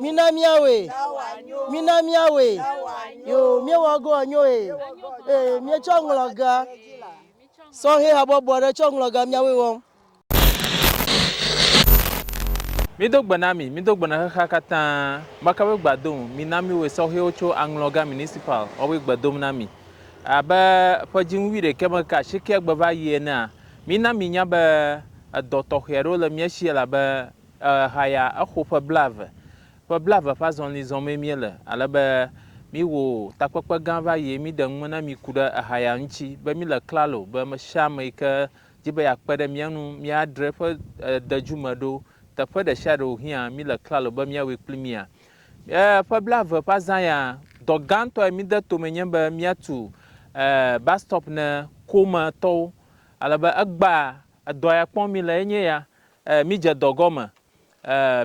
Mina míawɔe. Mina míawɔe. Yo, míewɔ go enyo e. Ee, míetsɔ ŋlɔga. Sɔhɛ habɔbɔ aɖe tsɔ ŋlɔga míawoe wɔm. Mído gbe na mi, mído gbe na xexea katã. Makawoe gbea dom? Mina míwɔe sɔhɛwo tso aŋlɔga municipal, woawoe gbe dom na mi. Abe ƒe dziŋu wuiɖekɛ me ke asiekea gbe va yi enea, mina minya be edɔ tɔxɛ aɖewo le mía si elabe ehaya exo ƒe blaeve. Ƒe blaeve ƒe azɔli zɔm mee míele ale be míwɔ takpekpe gã va yi eye míɖe nume na mi ku ɖe ehaya ŋuti be míle klalo be ame sia ame yi ke di be yeakpe ɖe mía ŋu míadzra eƒe dedu me ɖo. Teƒe ɖe sia ɖe wòhiã míle klalo be míawɔe kpli mia? Ƒe blaeve ƒe azã ya, dɔ gãtɔ yi mide tome nye be míatu bus stop ne Kometɔwo. Ale be egbea edɔ ya kpɔm míle ye nye ya. Mídze dɔ gɔme.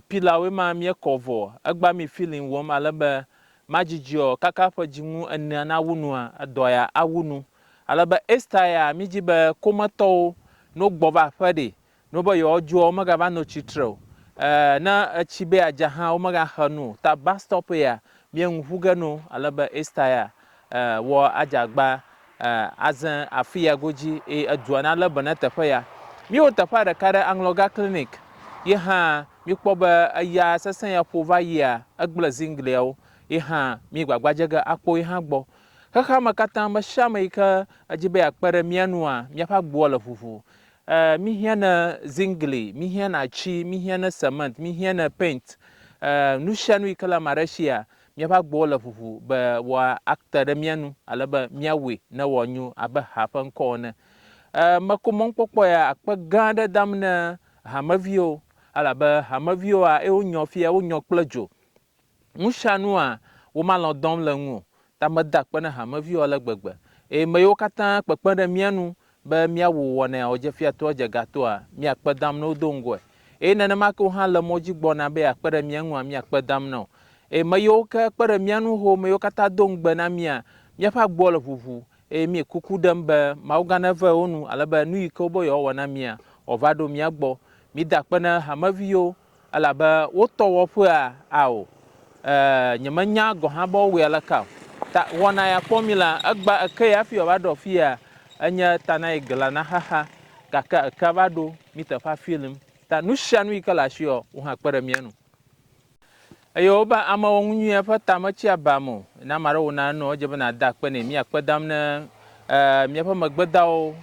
Pilawoe ma míekɔ vɔ. Egbea mi feeling wɔm ale be madzidziɔ kaka ƒe dzinu enea nawu nua edɔ ya awu nu. Ale be Ester ya, mídi be kometɔwo, ne wogbɔ va aƒe ɖe, ne wobe yewoadzoa, womegava no tsi tre o. E, ne etsi be yeadza hã, womegaxe nu o. Ta bus stop ya, míe ŋu ƒu ge no. Ale be Ester ya, e, wɔ adze agba, e, aze afi ya godzi, eye edua nalé be ne teƒe ya. Míewɔ teƒea ɖeka ɖe aŋlɔga clinic. Ye hã, míkpɔ be eya sesẽ ya ƒo va yia, egblẽ ziŋgliawo. Ye hã, míegbagba dze ge akpɔ ye hã gbɔ. Xexea me katã, ame sia ame yi ke edi be yeakpe ɖe mía nua, míaƒe agboa le ʋuʋu. Ee, míhiãna zingli, míhiãna atsi, míhiãna semɛnt, míhiãna paint. Ee, nu sia nu yi ke le ame aɖe sia, míaƒe agboa le ʋuʋu be woate ɖe mía nu ale be míawɔe ne wòanyo abe ha ƒe ŋkɔ ene. Ee, meko mɔnukpɔkpɔ ya akpe gã aɖe dam ne hameviwo, elabe hameviwoa, eye wonyɔ fiya, wonyɔ kple dzo. Nusianua womalɔ̃ dɔm le ŋu o, ta meda akpe na hameviwo ale gbegbe. Eye meyiwo katã kpekpe ɖe mía nu be míawu wɔnɛa wòdzefiatoa dze ga toa, míakpe dam ne wodo ŋgɔe. Eye nenema ke wohã le mɔ dzi gbɔna be yeakpe ɖe mía ŋua, míakpe dam na wo. Eye meyiwo ke kpe ɖe mía nu ho, meyiwo katã do ŋugbe na mía, míaƒe agboa le ʋuʋu, eye míe kuku ɖem be Mawugã neve wo nu ale be nu yi ke wobe yewoawɔ na mía, wòava ɖo mía gbɔ. Mida akpe na hameviwo Elabe wotɔ wɔ ƒea ao, e, nyemenya gɔ̃ hã be wowɔe aleka o. Ta wɔna ya kpɔ mí la, egbã ekee hafi wòava ɖo afia, enye ta na yi glã na xexea, gake ekea va ɖo mí teƒe afi lim. Ta nusianu yike le asiwò, wò hã kpe ɖe mía nu. Eye wobe amewɔnu nyuie ƒe ta metsi abam o. Ne ame aɖe wɔna enu, edze be nàda akpe nɛ. Mía kpe dam ne míaƒe megbedawo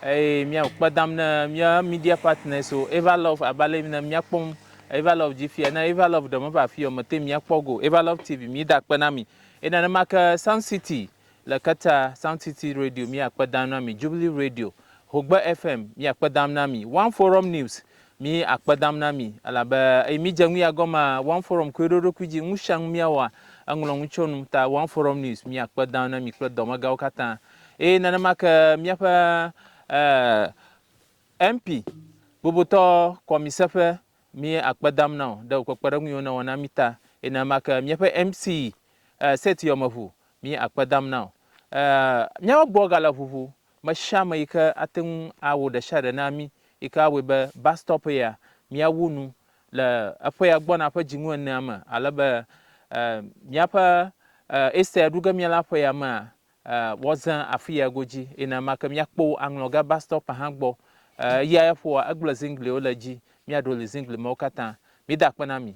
eye mía kpe dam ne mía media partners wo. Eva Love abe ale ne míakpɔm Eva Love dzi fia. Ne Eva Love ɖe meva afi o, mete ŋu akpɔ go. Eva Love TV, mida akpe na mi. Eye nenema ke Sun City Le Qatar, Sound City Radio mia kpe dam na mi, Jubilee Radio, Hogbe FM mia kpe dam na mi, One Forum News mi akpe dam na mi elabe eyi mi dze ŋui agɔma One Forum koe ɖo ɖokui dzi ŋusiaŋu mia wɔa eŋlɔ ŋu tso nu ta One Forum News mia kpe dam na mi kple dɔmegawo katã eye nenema ke miaƒe eh, MP bobotɔ kɔmise ƒe mi akpe dam na o ɖe wò kpekpeɖeŋuiwo newɔ na mi ta eye nenema ke miaƒe MC eh, set yɔmeʋu mí akpe dam na o. Ɛɛ, míaƒe gbɔ gale ʋuʋu. Me sia me yi ke ate ŋu awɔ ɖe sia ɖe na mí yi ke awɔe be bastɔp ya míawu nu le eƒea gbɔna ƒe dzinu enea me ale be, ɛɛ, míaƒe, ɛɛ, Easter ɖu ge míala ƒea mea, ɛɛ, woazẽ afi ya godzi. Eye nenema ke míakpɔ wò aŋlɔ ge bastɔpea hã gbɔ. Ɛɛ, eya ya ƒoa egble ziŋgliwo le edzi. Míaɖo li ziŋgli mawo katã. Mida akpe na mi.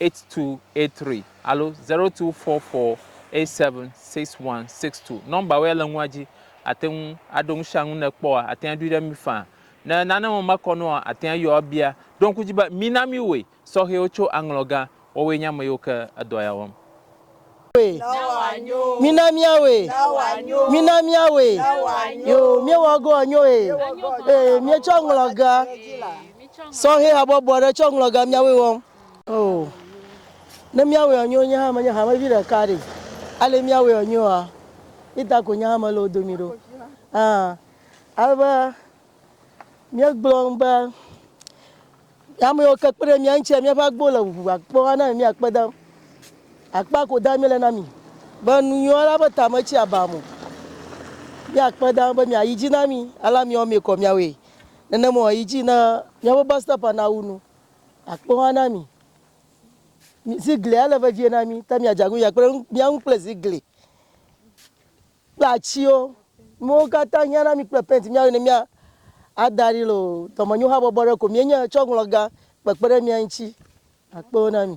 8283 alo 0244876162. Nɔmbawo ya le nua dzi. Àte ŋu aɖo nu sia nu ne èkpɔa, àte ŋu aɖoe ɖe mí faa. Ne nane me mekɔ na wòa, àte ŋu ayɔ abia. Ɖo ŋku edzi be mina míwoe sɔhɛwo tso aŋlɔgã wɔwɔe nye ame yiwo ke edɔ ya wɔm. Mina míawoe. Mina míawoe. Yoo, míewɔ go anyo e. Ee, míetsɔ aŋlɔgã sɔhɛ habɔbɔ aɖe tsɔ aŋlɔgã míawoe wɔm. Oo, ne míawɔe anyo nye hã menye hamevi ɖeka ɖe, ale míawɔe anyoa? Ita ko nye hã mele wo domi ɖo. Ã, ale be míegblɔ nu be ame yiwo ke kpe ɖe mía ŋuti míaƒe agbo le ʋuʋu akpɔ ana mi míakpe dem. Akpa ko da míele na mi be nu nyuiwo la be tame tsi aba mo. Míakpe dem be miayi dzi na mi ale miwo mi kɔ miawɔe. Nenema yi dzi ne míaƒe bus stop nawu nu. Akpe ŋa na mi. Zigli ale vevie na mi, ta miadze agunya kple mía ŋu kple zigli kple atsiwo. Nuwo katã hiã na mi kple pɛnti mía wɔ ne mía ada ɖi le o. Dɔmenyo habɔbɔ ɖe ko mienye tsɔ ŋlɔ ga kpekpe ɖe mía ŋuti. Akpe wo na mi.